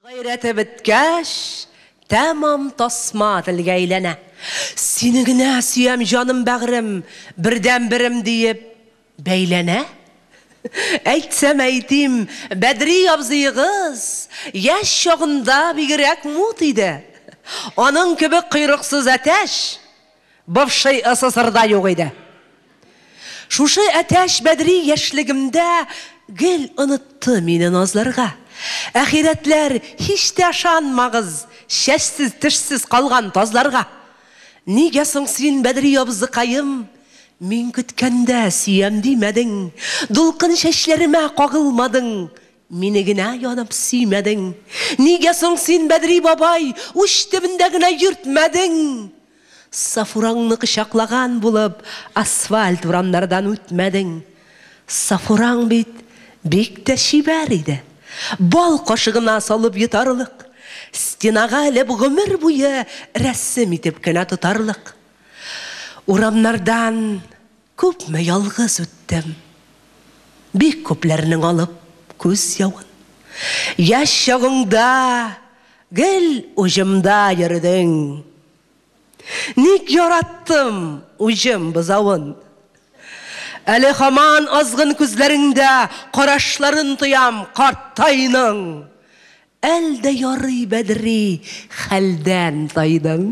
Гайрәте беткәч, тәмам тасма телгә әйләнә. Сине генә сөям, җаным, бәгърем, бердәнберем диеп бәйләнә. Әйтсәм әйтим, Бәдри абзыегыз яшь чагында бигрәк мут иде. Аның кебек койрыксыз әтәч! Бывший ССРда юк иде. Шушы Әтәч Бәдри яшьлегемдә гел онытты мине назларга. Әхирәтләр, һич тә ышанмагыз чәчсез-тешсез калган тазларга. Нигә соң син, Бәдри абзыкаем, мин көткәндә сөям димәдең, дулкын чәчләремә кагылмадың, Мине генә янып сөймәдең. Нигә соң син, Бәдри бабай, Уч төбендә генә йөртмәдең? Сафураңны кочаклаган булып, Асфальт урамнардан үтмәдең? Сафураң бит бик тә чибәр иде. Бал кашыгына салып йотарлык. Стенага элеп гомер буе Рәсем итеп кенә тотарлык. Урамнардан Күпме ялгыз үттем. Бик күпләрнең алып күз явын. Яшь чагыңда гел уҗымда йөредең. Ник яраттым уҗым бозавын. Әле һаман азгын күзләреңдә карашларын тоям картайның. Әл дә ярый бәдри хәлдән тайдың.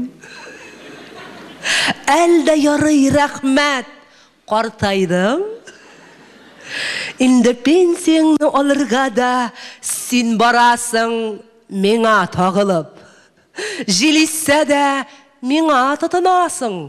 Әл дә ярый рәхмәт картайдың. Инде пенсияңне алырга да син барасың миңа тагылып. Җил иссә дә миңа тотынасың.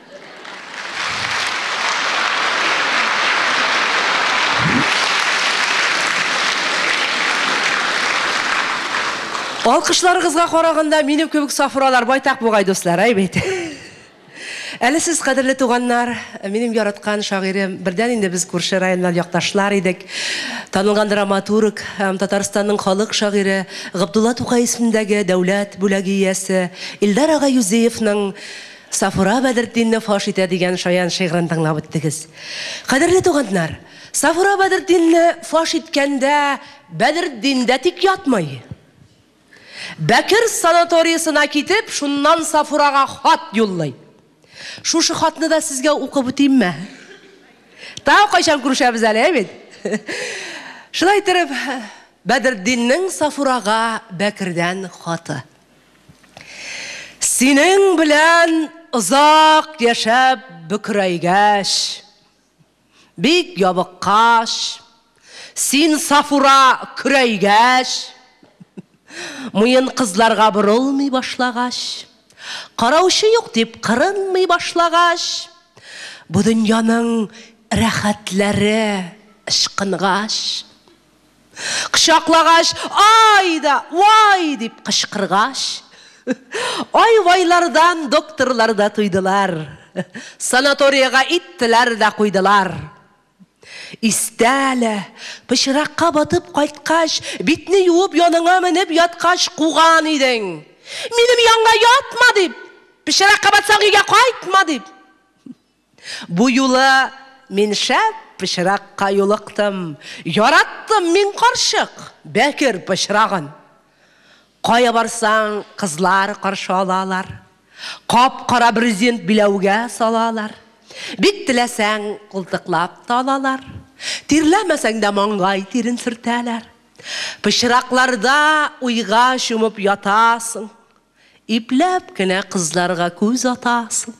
Алкышларыгызга караганда минем кебек сафуралар байтак бугай дуслар, әй бит. Әле сез кадерле туганнар, минем яраткан шагыйрем, бердән инде без күрше районнар якташлар идек. Танылган драматург, Татарстанның халык шагыйре Габдулла Тукай исемендәге дәүләт бүләге иясе Илдар ага Юзеевның Сафура Бәдертдинне фаш итә дигән шаян шигырен тыңлап үттегез. Кадерле туганнар, Сафура Бәдертдинне фаш иткәндә Бәдертдин дә тик ятмый. Бәкер санаториясына китеп, шуннан Сафурага хат юллый. Шушы хатны да сезгә укып үтимме? Тагы кайчан күрешәбез әле, әй бит? Шулай иттереп, Бәдертдиннең Сафурага Бәкердән хаты. Синең белән озак яшәп бөкрәйгәч, бик ябыккач, син Сафура көрәйгәч, муен кызларга борылмый башлагач, караучы юк дип кырынмый башлагач, бу дөньяның рәхәтләре ычкынгач, Кочаклагач, Ай да, вай! дип кычкыргач, ай-вайлардан докторлар да туйдылар. Санаториягә иттеләр дә куйдылар. Истә әле, пычракка батып кайткач, битне юып яныңа менеп яткач куган идең. Минем янга ятма дип! Пычракка батсаң, өйгә кайтма дип! Бу юлы мин шәп пычракка юлыктым. Яраттым мин карчык бәкер пычрагын. Кая барсаң, кызлар каршы алалар. Кап-кара брезент биләүгә салалар. Бик теләсәң, култыклап та алалар. Тирләмәсәң дә маңгай тирен сөртәләр. Пычракларда уйга чумып ятасың. Ипләп кенә кызларга күз атасың.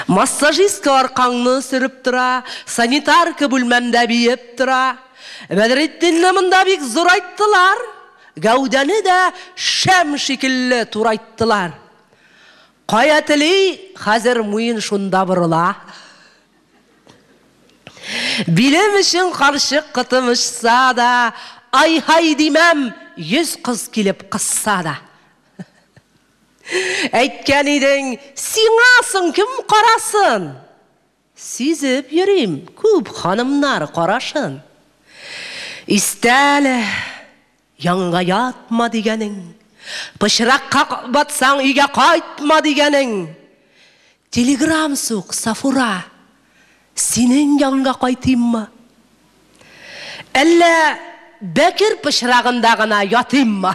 Массажистка аркаңны сөреп тора, санитарка бүлмәмдә биеп тора. Бәдретдинне монда бик зурайттылар, гәүдәне дә шәм шикелле турайттылар. Кая тели, хәзер муен шунда борыла. Билем өчен карчык кытымышса да, Ай-һай димәм, йөз кыз килеп кысса да. Әйткән идең, сиңа соң кем карасын? Сизеп йөрим, күп ханымнар карашын. Истә әле, Янга ятма дигәнең, пычракка батсаң, өйгә кайтма дигәнең. Телеграм сук, Сафура, синең янга кайтыйммы? Әллә Бәкер пычрагында гына ятыйммы?